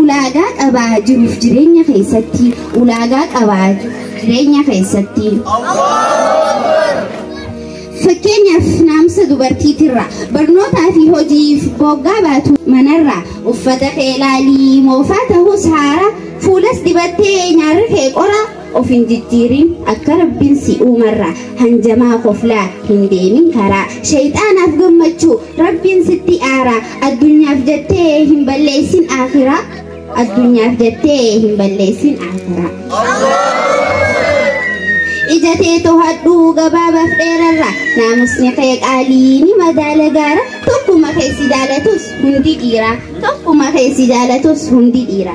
Ulaagaa qabaa jiruuf jireenya keessatti ulaagaa qabaa jireenya keessatti. Fakkeenyaaf naamsa dubartiitirraa barnootaa fi hojiif boggaa baatu manarraa uffata kee ilaalii moofaa ta'us haara fuulas dibattee nyaarri kee qoraa of hin jijjiirin akka rabbin si uumarra hanjamaa koflaa hin deemin karaa shayxaanaaf gammachuu rabbiin sitti aara addunyaaf jettee hin balleessin aakiraa addunyaaf jettee hin balleessin aakiraa ija tee tohadhu gabaabaaf dheerarra naamusni kee qaalii ni madaala gaara tokkuma kee si jaalatus hundi dhiira tokkuma kee si jaalatus hundi dhiira.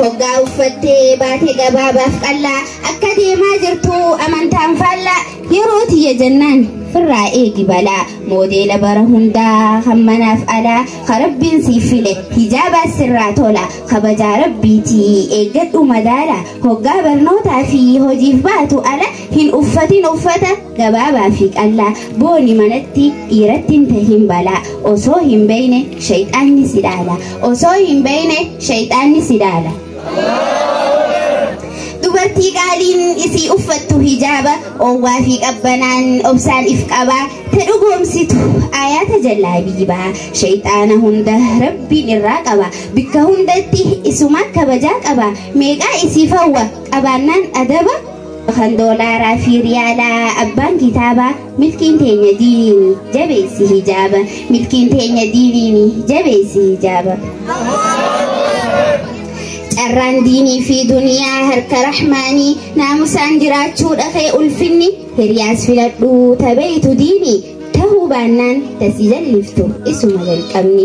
Hoggaa uffattee baate gabaabaaf qallaa akka deemaa jirtu amantaan faallaa yeroo tiyya jennaan firraa eegi balaa moodeela bara hundaa hammanaaf alaa ka rabbiin siif file hijaabaas sirraa tola kabajaa rabbiitii eeggadhu madaala hoggaa barnootaa fi hojiif baatu ala Hin uffatin uffata gabaabaa fi qallaa booni manatti dhiiratti hin tahin balaa osoo hin beeyne shayxaanni si dhaala osoo hin beeyne shayxaanni si dhaala. Dubartii qaaliin isii uffattu hijaaba oowwaa fi qabbanaan obsaan if qabaa ta dhugoomsitu ayaata jallaa biibaa shayxaana hunda rabbiin irraa qaba bikka hundatti isumaa kabajaa qaba meeqaa isii fawwa qabaannaan adaba kan doolaaraa fi riyaalaa abbaan kitaaba milkiin teenya diiniini jabeessi hijaaba milkiin teenya diiniini jabeessi hijaaba carraan diinii fi duniyaa harka rahmaanii naamusaan jiraachuu dhaqee ulfinni hiriyaas filadhuu tabeeytu diinii tahuu baannaan tasii jalliftu isuma jalqabni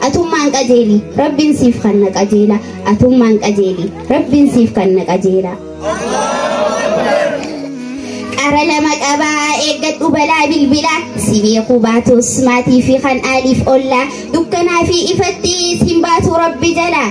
Atummaan qajeeli rabbiin siif kanna qajeela atummaan qajeeli rabbiin siif kanna qajeela. Qara lama qabaa eeggadhu balaa bilbilaa si beeku baatus maatii fi kan aaliif ollaa dukkanaa fi ifatti siin baatu rabbi jalaa.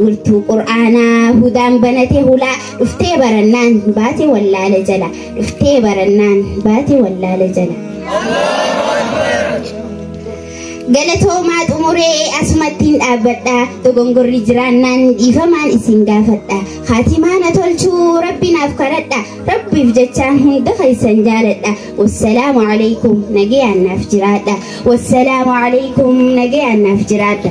Wiirtuu qur'aanaa hudaan banate hulaa dhuftee barannaan baate wallaala jala dhuftee barannaan baate wallaala jala. Galatoomaa xumuree asumattiin dhaabbadha dogongorri jiraannaan dhiifamaan isin gaafadha haatimaa na tolchuu rabbi naaf kadhadha rabbiif jecha hunda keessan jaaladha wassalaamu alaikum nagayaan naaf jiraadha wassalaamu alaikum nagayaan naaf jiraadha.